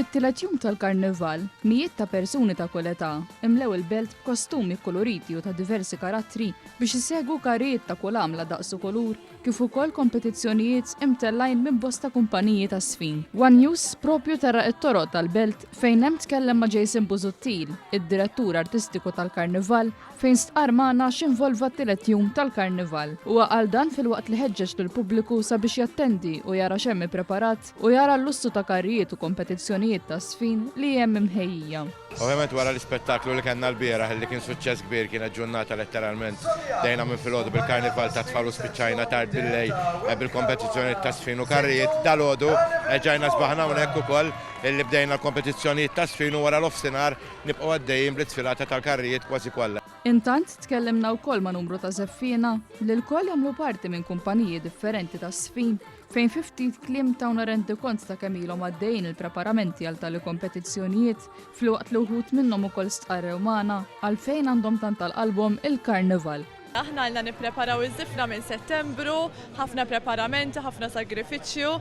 Fit-tielet jum tal-Karnival, mijiet ta' persuni ta' kull età imlew il-belt b'kostumi kkuluriti u ta' diversi karattri biex isegwu karrijiet ta' kull għamla daqs u kulur kif ukoll kompetizzjonijiet imtellgħin minn bosta kumpaniji tas-sfin. One News proprju terra it-toroq tal-belt fejn hemm tkellem ma' Jason Busuttil, id-Direttur Artistiku tal-Karnival, fejn stqarr magħna x'involva t-tielet jum tal-Karnival. Huwa qal dan filwaqt li ħeġġeġ lill-pubbliku sabiex jattendi u jara x'hemm ippreparat u jara l-lussu ta' karrijiet u kompetizzjonijiet ta' żfin li hemm imħejjija. Ovvjament wara l-ispettaklu li kellna lbieraħ li kien suċċess kbir kienet ġurnata letteralment bdejna minn filgħodu bil-Karnival tat-tfal u spiċċajna tard billejl bil-kompetizzjonijiet ta' żfin u karrijiet. Dalgħodu erġajna sbaħna hawnhekk ukoll illi bdejna l-kompetizzjonijiet ta' żfin u wara l-offsinhar Nibqgħu għaddejjin bl-isfilata tal-karrijiet kważi kollha. Intant, tkellimna wkoll ma' numru ta' żeffiena, li lkoll jagħmlu parti minn kumpaniji differenti ta' żfin, fejn fi ftit kliem tawna rendikont ta' kemm ilhom għaddejjin il-preparamenti għal tali kompetizzjonijiet, filwaqt li wħud minnhom ukoll stqarrew magħna għalfejn għandhom tant għal qalbhom il-Karnival. Aħna ilna nippreparaw iż-żifna minn Settembru, ħafna preparamenti, ħafna sagrifiċċju,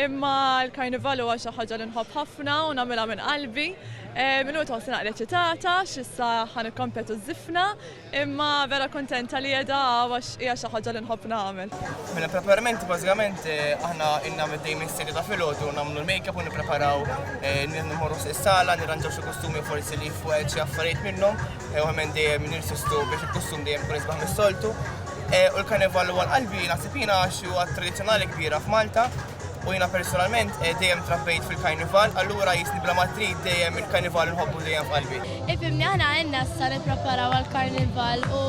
imma l-Karnival huwa xi ħaġa li nħobb ħafna u nagħmilha minn qalbi. Illum qed nħossni naqra eċitata x'issa ħa nikkompetu ż-żifna, imma vera kuntenta li qiegħda hawn għax hija xi ħaġa li nħobb nagħmel. Mela preparamenti bażikament aħna ilna middejjin minn sitta ta' filgħodu nagħmlu l-makeup u nippreparaw, immorru s-sala, nirranġaw xi kustumi forsi li fuq xi affarijiet minnhom, Ew hemm dejjem nirsistu biex il-kostum dejjem ikun isbaħ mis-soltu. E, u l-karnival huwa l-qalbi naħseb jiena għax huwa tradizzjonali kbira f'Malta u jiena personalment e, dejjem trabbejt fil-karnival, allura jisni bla matrid dejjem il-karnival nħobbu dejjem f'qalbi. Ifimni aħna għenna sa nippreparaw għal karnival u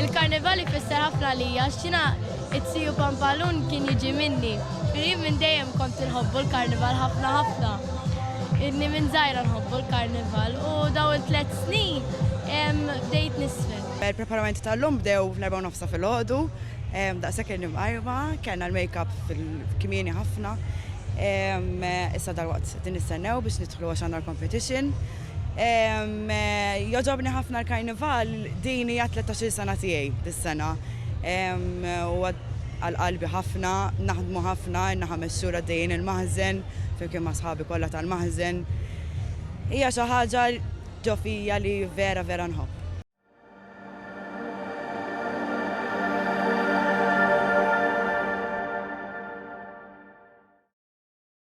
il-karnival ifisser ħafna lija x'tina It-Tsi u Pampalun kien jiġi minni. Jien minn dejjem kont inħobbu l-Karnival ħafna ħafna. Inni minn żgħira nħobbu l-Karnival u dawn it-tliet snin bdejt nisfen. Il-preparamenti tal-lum bdew fl-erbgħa u nofsa filgħodu. Daqshekk irni mqarrba, kellna l-makeup kmieni ħafna. Issa dalwaqt qegħdin nistennew biex nidħlu għax għandna l-competition. Jogħġobni ħafna l-Karnival, din hija t-tlettax-il sena tiegħi dis-sena. Huwa għal qalbi ħafna, naħdmu ħafna, ilna ħames xhur għaddejjin il-maħżen, flimkien ma' sħabi kollha tal-maħżen. Hija xi ħaġa ġo fija li vera vera nħobb.